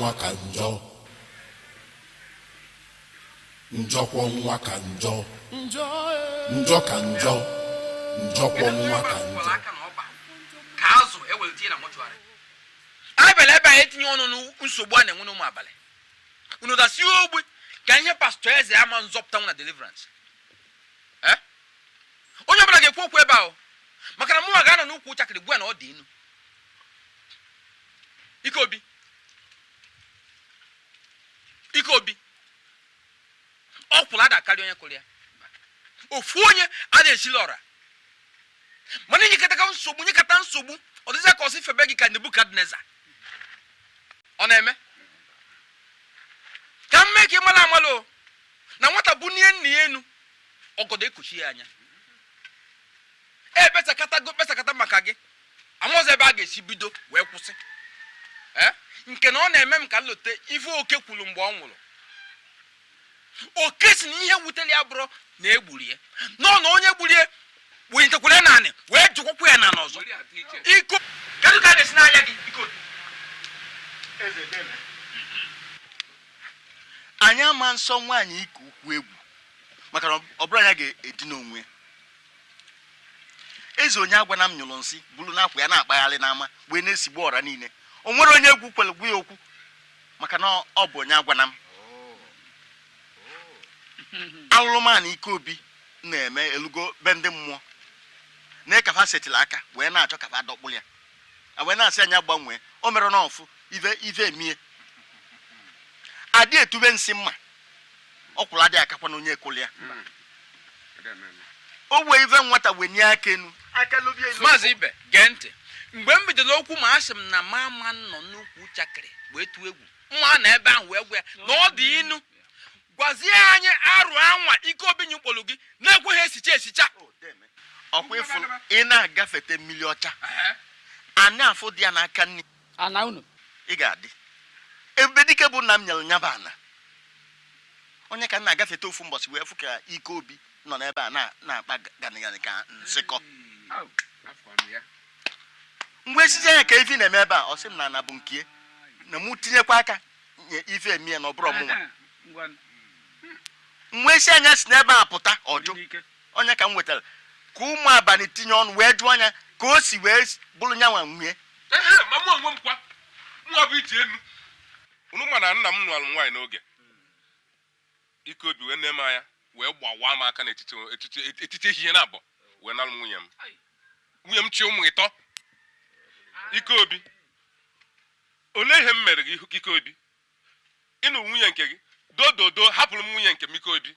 nwa ka njọ njọkwọ nwa ka njọ njọ ee. njọ ka njọ njọkwọ nwa ka njọ aka na ọba ka azụ ewere tinye na mọchụarị abịala ebe anyị etinye ọnụ na nsogbu a na-enwe n'ụmụ abalị unu dasi ogbe ka ihe pastọ eze ama nzọpụta nwe na deliverance Eh? onye ọbụla ga-ekwu okwu ebe ahụ maka na mụnwa ga-anọ n'ukwu chakịrị gwa ya na ọ dị inu ike obi ike obi ọkwụrụ ada akarị onye kụrụ ya ofu onye ada esili ọra mana i nyekata nsogbu nyekata nsogbu ọ dịzịa ka a sị febe gị ka nebukadneza ọ na-eme ka m mee ka ị mara amala o na nwata bunie nna ya enu ọgọdọ ekpuchie ya anya e kpesakatago kpesakata maka gị amaghịzi ebe a ga-esi bido wee kwụsị eh? nke na ọ na-eme m ka m lote ife oke kwuru mgbe ọ nwụrụ oke sị na ihe wutere ya abụrọ na e gburu ya nọ na onye gburu ya wenyetekwara naanị wee jụkwakwa ya na n'ọzọ iko kedu ka a ga-esi n'anya gị iko anyị ama nsọ nwaanyị ike ukwu egwu maka na ọ bụrọ nya ga-edina onwe eze onye agwana m nyụrụ nsị buru n'akwa ya na-akpagharị n'ama wee na-esigbu ọra niile o nwerọ onye egwu kwere gwa ya okwu maka na ọ bụ onye agwana m alụrụmanụ ike obi na-eme elugo be ndị mmụọ na ka fa setịlị aka wee na-achọ ka fa dọkpụrụ ya wee na-asị nya gbanwee o mere na ọfụ ive ive emie adị etube nsị mma ọkwụrụ adị akakwanụ onye kụlụ ya hmm. o wee ive nwata wenye aka enu maazị ibe gee ntị mgbe m bidoro okwu ma asị m na mụ ama anọ n'ukwu chakịrị wee tụọ egwu mma anọ ebe ahụ wee gwa ya na ọ dị inu gwazie anyị arụ anwa ike obi nyụkpọrọ gị na-ekweghị esicha esicha oh, ọkwa ị fụ ị na-agafete mmiri ọcha ana afụ dị ya n'aka nri ana unu ị ga-adị ebe dike bụ nna m nyere nya bụ ana onye ka m na-agafete ofu mbọsị wee fụ ka ike obi nọ n'ebe a na-akpa ganịganị ka nsịkọ m wee sịzị nya kee ife na-eme ebe a ọ sị m na ana bụ nke ya na mụ tinyekwa aka nye ife emie ya na ọ bụrọ mụnwa m wee sị nya si n'ebe a pụta ọ jụ onye ka m wetara ka ụmụ abalị tinye ọnụ wee jụọ anya ka o si wee buru nyanwa nwunye ehe ma mụ onwe m kwa nwa bụ iji enu unu ma na nna m nụrụ nwaanyị n'oge ike obi wee nne m anya wee gbawa m aka n'etiti etiti etiti ehihie na abụọ wee nalụ m nwunye m nwunye m chị ụmụ ịtọ ike obi olee ihe m mere gị ihu- ike obi ị nụ nwunye nke gị dododo hapụrụ m nwunye nke m ike obi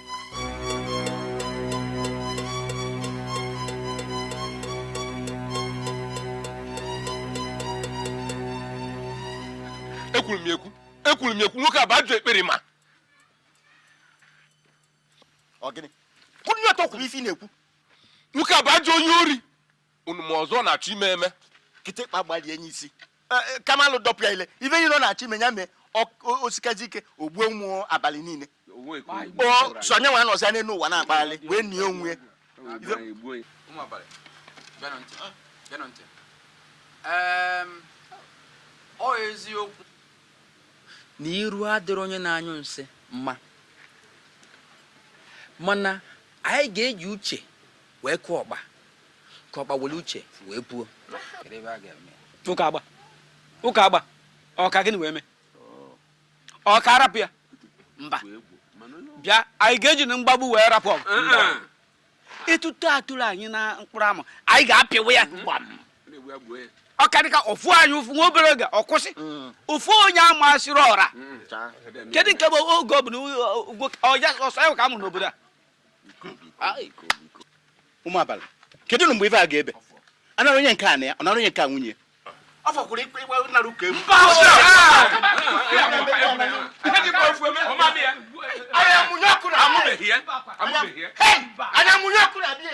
ekwuru m ekwu ekwuru m ekwu nwoke a bụ ajọ ekperima ọ gịnị kwụrụ ọtọ kwuru ife ị na-ekwu nwoke a bụ ajọ onye ori unu ma ọzọ ọ na-achọ ime eme kịtịkpa gbalie nya isi e, e, kamalụ dọpụ ya ile ife niile ọ na-achọ ime ya mee o sikazi ike o gbuo ụmụ abalị niile sọ nya nwa nọzi n'enu ụwa na-akpagharị wee nie onwe ọ eziokwu na iru adịrị onye na-anyụ nsị mma mana anyị ga-eji uche wee kụọ ọkpa ka ọkpa were uche wee puo ụka agba ụka agba ọ ka gịnị wee mee ọ ka a rapụ ya mba bịa anyị ga-eji na mgbagbu wee rapụ ọgụ etuto toro anyị na mkpụrụ amụ anyị ga-apịwa ya gbam ọ karịka o fuo anyị ụfụ nwa obere oge ọ kwụsị ụfụ mm. onye amasịrị ọra mm, kedu nke bụ oge ọ bụ na ọ ya ọ sọ ya ka a mụrụ n'obodo a ụmụ abalị kedu mgbe ife a ga-ebe ọ nara onye nke a ana ya ọ nara onye nke a nwunye ọ fọkwuru ikpe ịgba nara ụka egwu anya mụnye ọkụ na-abịa